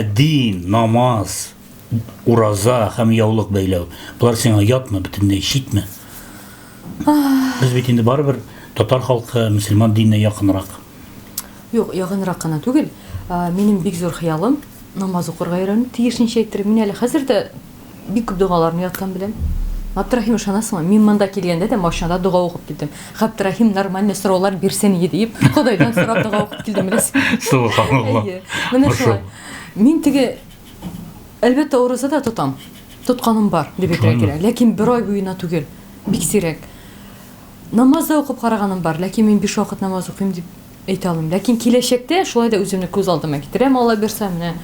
Дин, намаз, ураза һәм яулык бәйләү. Болар сиңа ятмы, бөтенләй читме? Без бит инде барыбер татар халкы мөселман диненә якынрак. Юк, ягынрак кына түгел. Минем бик зур хыялым намаз укырга өйрәнү, тиешенчә әйтер. Мин әле хәзер дә Бик күп догаларны яткан белән. Габдрахим ышанасыңмы? Мин монда килгәндә дә машинада дога укып килдем. Габдрахим нормальный сораулар бирсен иде дип, Ходайдан сорап дога укып килдем беләс. Субханалла. Менә шулай. Мин теге әлбәттә орыза да тотам. Тотканым бар дип әйтергә кирәк. Ләкин бер ай буена түгел. Бик сирәк. Намаз да укып караганым бар, ләкин мин биш вакыт намаз укыйм дип Әйтә алмыйм, ләкин киләчәктә шулай да үземне күз алдыма китерәм, Алла бирсә, менә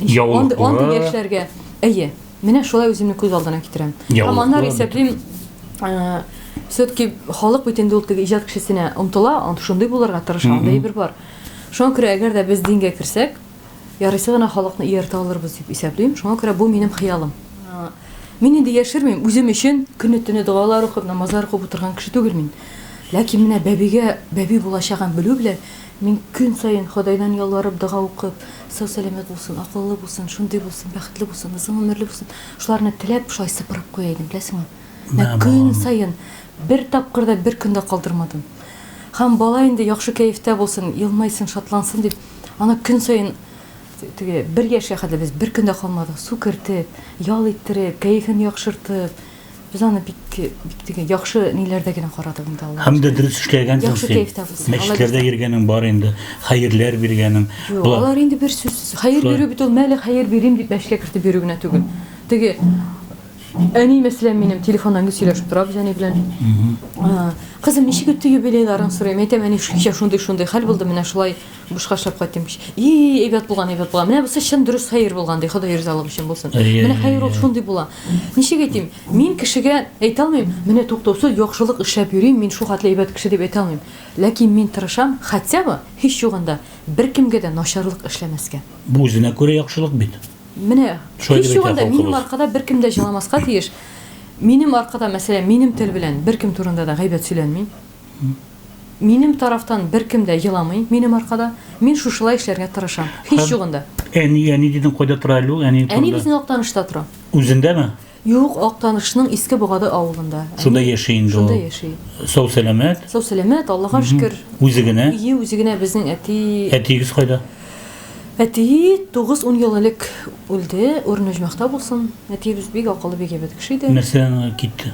яулыклы андый яшьләргә. Әйе, менә шулай үземне күз алдына китерәм. Һәм аннары исәплим, э, все-таки халык бит инде ул теге иҗат кешесенә омтыла, шундый булырга тырыша, андый бер бар. Шуңа күрә, әгәр дә без дингә керсәк, Ярыйсы гына халыкны ияртә алырбыз дип исәплим. Шуңа күрә бу минем хыялым. Мин инде яшермим, үзем өчен көне-төне догалар укып, намазлар укып утырган кеше түгел мин. Ләкин менә бәбигә бәби булачагын белү белән, мин көн саен Ходайдан ялварып, дога укып, сау-сәламәт булсын, акыллы булсын, шундый булсын, бәхетле булсын, озын гомерле булсын, шуларны теләп, шулай сыпырып куя идем, беләсеңме? Менә көн саен, бер тапкыр да бер көн дә калдырмадым. Һәм бала инде яхшы кәефтә булсын, елмайсын, шатлансын дип, Аны көн саен теге бер яшькә кадәр без бер көн дә калмадык, су кертеп, ял иттереп, кәефен яхшыртып. Без аны бик бик теге яхшы ниләрдә генә карадык инде Аллаһ. Һәм дә дөрес эшләгәнсең син. Мәчетләрдә йөргәнең бар инде, хәерләр биргәнең. Юк, алар инде бер сүзсез. Хәер бирү бит ул мәле хәер бирим дип мәчеткә кертеп йөрү генә түгел. Теге Әни мәсәлән минем телефоннан гел сөйләшеп тора без әни белән. А, Кызым, ничек үтте юбилейларың сорыйм. Әйтәм, әни шулча шундый шундый хәл булды, менә шулай бушка эшләп кайттым. И, әйбәт булган, әйбәт булган. Менә бусы чын дөрес хәер булган, ди. Ходай ризалык өчен булсын. Әйе, Менә әйе, хәер ул әйе. шундый була. Ничек әйтим? Мин кешегә әйтә алмыйм, менә туктаусыз яхшылык эшләп йөрим, мин шул хәтле әйбәт кеше дип әйтә алмыйм. Ләкин мин тырышам, хотя бы һич югында беркемгә дә начарлык эшләмәскә. Бу үзенә күрә яхшылык бит. Менә Шулай һич дип әйтә юганда минем халкыбыз. аркада беркем дә җыламаска тиеш. Минем аркада, мәсәлән, минем тел белән беркем турында да гайбәт сөйләнми. Минем тарафтан беркем дә еламый минем аркада. Мин шушылай эшләргә тырышам. Һич Һәм- югында. Әни, әни дидең, кайда тора әле ул? Әниең Әни турында. безнең Актанышта тора. Үзендәме? Юк, Актанышның Иске Богады авылында. Шунда яши инде ул. Шунда яши. Сау сәламәт. Сау сәламәт, Аллага шөкер. Үзе генә. Ие, үзе генә безнең әти. Әтиегез кайда? Әти 9-10 ел элек үлде. Урын оҗмахта булсын. Әтиебез бик акыллы, бик әйбәт кеше иде. Нәрсә китте?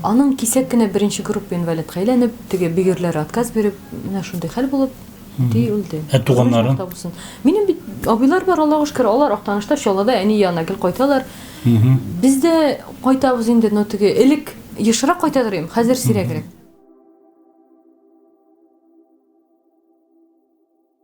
Аның кисәк кенә беренче группа инвалидка әйләнеп, теге бигерләр отказ биреп, менә шундый хәл булып, әти үлде. Ә туганнары? Минем бит абыйлар бар, Аллага шөкер, алар Актанышта, Чаллыда, әни янына гел кайталар. Без дә кайтабыз инде, но теге элек ешрак кайтадыр идем, хәзер сирәгрәк.